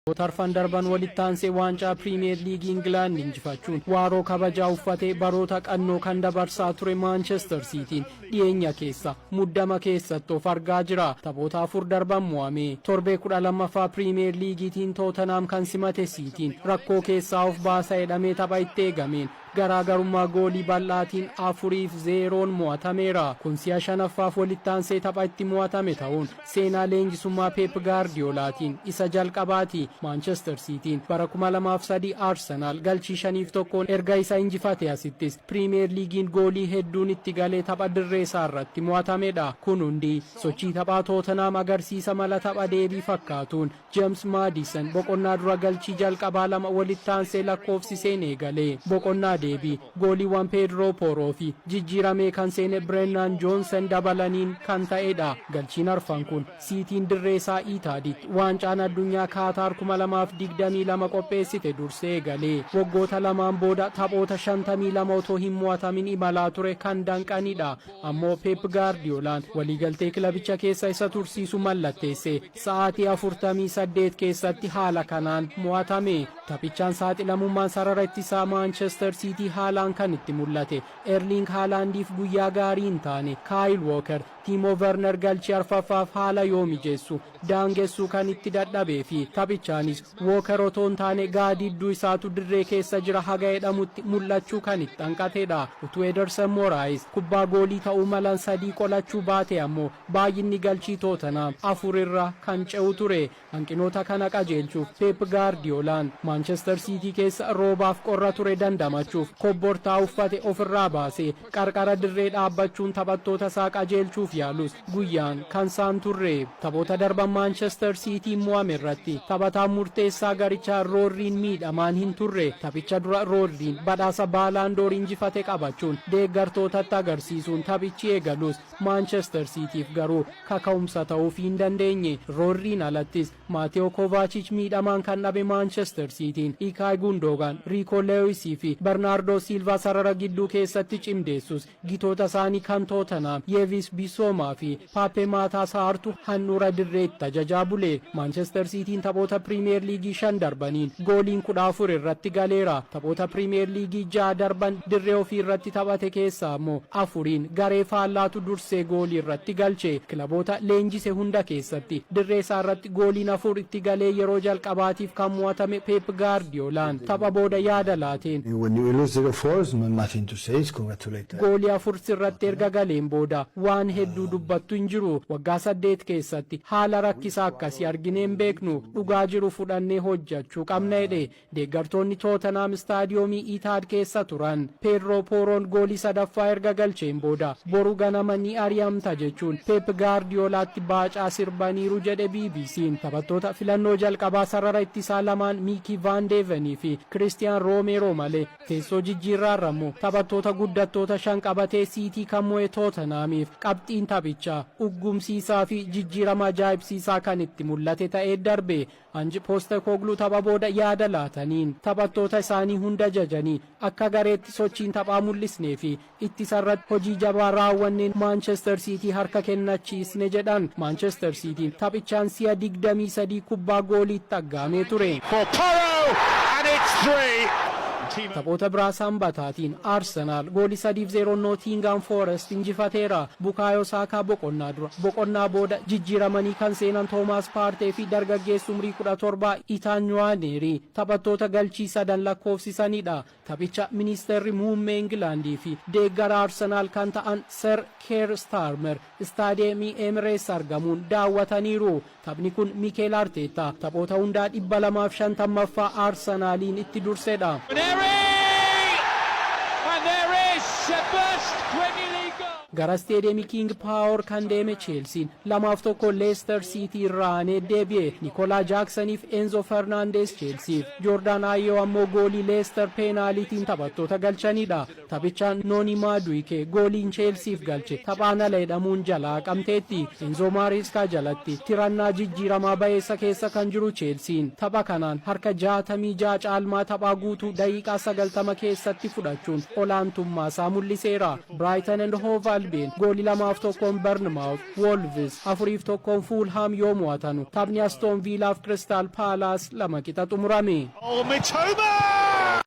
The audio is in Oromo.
Taphoota arfan darban walitti aansee waancaa Piriimiyeer Liigii Ingilaand injifachuun waaroo kabajaa uffatee baroota qannoo kan dabarsaa ture Maanchester Siitiin dhiyeenya keessa muddama keessatti of argaa jira. Taphoota afur darban mo'amee torbee 12ffaa Piriimiyeer Liigiitiin Tootenhaam kan simate Siitiin rakkoo keessaa of baasa jedhamee tapha itti eegameen Garaagarummaa goolii bal'aatiin afuriif zeeroon mo'atameera. Kun si'a shanaffaaf walittaansee tapha itti mo'atame ta'uun seenaa leenjisummaa Peep Gaardiyoolaatiin isa jalqabaati. Maanchester Siitiin bara kuma lamaa fi sadii Arsenaal galchii shaniif tokkoon erga isa injifatee asittis Piriimiyeer Liigiin goolii hedduun itti galee tapha dirreesaarratti mo'atamedha. Kun hundi sochii taphaa Tootenhaam agarsiisa mala tapha deebii fakkaatuun Jeemsi Maadiisan boqonnaa dura galchii jalqabaa lama walitti aansee lakkoofsiseen eegale. Boqonnaa deebii gooliiwwan Peedroo Pooroo fi jijjiiramee kan seene Bireenaan Joonsan dabalaniin kan ta'edha. Galchiin arfan kun Siitiin dirree isaa Iitaaditti Waancaan Addunyaa Kaataar 2022 qopheessite dursee eegale. Waggoota lamaan booda taphoota 52 otoo hin mo'atamin imalaa ture kan danqanidha. Ammoo Peep Gaardiyoolaan waliigaltee kilabicha keessa isa tursiisu mallatteesse. Sa'aatii 48 keessatti haala kanaan mo'atame. Taphichaan saaxilamummaan sarara ittisaa Maanchester Siitii haalaan kan itti mul'ate Erliing Haalaandiif guyyaa gaarii hin taane. Kaayil Wooker, Tiimoo Verner galchii arfaffaaf haala yoo mijeessu daangessuu kan itti dadhabee fi taphichaanis Wooker otoo hin taane gaadidduu isaatu dirree keessa jira haga jedhamutti mul'achuu kan itti hanqatedha. Utuu Edersen Moraayis kubbaa goolii ta'uu malan sadii qolachuu baatee ammoo Baay'inni galchii Tootanhaam afur irra kan ce'u ture. Hanqinoota kana qajeelchuuf Peep Gaardiyoolaan Maanchester Siitii keessa roobaaf qorra ture dandamachuuf kobbortaa uffate ofirraa baasee qarqara dirree dhaabbachuun taphattoota isaa qajeelchuuf yaalus guyyaan kan isaa hin turre. Taphoota darban Maanchester Siitiin mo'ame irratti taphataan murteessaa garichaa Roodriin miidhamaan hin turre. Taphicha dura Roodriin badhaasa Baalaandoor injifate qabachuun deeggartootatti agarsiisuun taphichi eegalus Maanchester Siitiif garuu kaka'umsa ta'uufii hin dandeenye. Roodriin alattis Maatewo Kovaachich miidhamaan kan dhabe Maanchester Siitiin Ikaay Gundoogaan, Riikoo Leewisii fi Barnaardoo Siilvaa sarara gidduu keessatti cimdeessus gitoota isaanii kan Tootanhaam Yeevis Bissoomaa fi Paappee Maataa Saartu handhuura dirreetti tajajaa bule. Maanchester Siitiin taphoota Piriimiyeer Liigii shan darbaniin gooliin kudha afur irratti galeera. Taphoota Piriimiyeer Liigii ja'a darban dirree ofii irratti taphate keessaa ammoo afuriin garee faallaatu dursee goolii irratti galche. Kilaboota leenjise hunda keessatti dirree isaa irratti gooliin afur itti galee yeroo jalqabaatiif kan mo'atame Peep Gaardiyoolaan tapha booda yaada laateen. Goolii afur sirratti erga galeen booda waan hedduu dubbattu hin jiru. Waggaa saddeet keessatti haala rakkisaa akkasii arginee hin beeknu. Dhugaa jiru fudhannee hojjechuu qabna jedhe. Deeggartoonni Tootanhaam Istaadiyoomii Iitaad keessa turan Peedroo Pooroon goolii sadaffaa erga galcheen booda boru ganama ni ari'amta jechuun Peep Gaardiyoolaatti baacaa sirbaniiru jedhe BBC'n. Taphattoota filannoo jalqabaa sarara ittisaa lamaan Miikii Vaan Deevenii fi Kiristiyaan Roomeeroo malee teessoo jijjiirraarra immoo taphattoota guddattoota shan qabatee Siitii kan mo'e Tootanhaamiif qabxiin taphichaa uggumsiisaa fi jijjiirama ajaa'ibsiisaa kan itti mul'ate ta'ee darbe. Anji Postekogluu tapha booda yaada laataniin, taphattoota isaanii hunda jajanii akka gareetti sochiin taphaa mul'isnee fi ittisarratti hojii jabaa raawwanneen Maanchester Siitii harka kennachiisne jedhan. Maanchester Siitiin taphichaan si'a 23 kubbaa gooliitti aggaamee ture. Taphoota biraa Sambataatiin Arsenaal goolii 3 fi 0'n Nootiingaam Foorest injifateera. Bukaayoo Saakaa boqonnaa dura boqonnaa booda jijjiiramanii kan seenan Toomaas Paartee fi dargaggeessi umrii kudha torba Itaan Niwaaneeri taphattoota galchii sadan lakkoofsisanidha. Taphicha Ministeerri Muummee Ingilaandii fi deeggaraa Arsenaal kan ta'an Sir Keer Staarmer Istaadiyeemii Eemireets argamuun daawwataniiru. Taphni kun Mikeel Arteettaa taphoota hundaa 250ffaa Arsenaaliin itti dursedha. Gara Isteediyeemii Kiing Paawor kan deeme Cheelsiin 2f 1 Leester Siitii irraa aanee deebi'e. Nikolaa Jaaksaniif Enzo Fernaandeez Cheelsiif, Joordaan Aayiyoo ammoo goolii Leester peenaaliitiin taphattoota galchanidha. Taphichaan Noonii Maaduwikee gooliin Cheelsiif galche taphaan ala jedhamuun jalaa haqamteetti. Enzoo Maareeskaa jalatti tirannaa jijjiiramaa bayeessa keessa kan jiru Cheelsiin tapha kanaan harka 66 caalmaa taphaa guutuu daqiiqaa 90 keessatti fudhachuun olaantummaasaa mul'iseera. Biraayitan and Hoov Albiyeen gooli 2 fi 1n Barnimaawuz, Woolviz 4 fi 1n Fuulhaam yoo mo'atanu taphni Astoon Viilaaf Kiristaal Paalaas 2 qixa xumurame. Oh, Mitoma!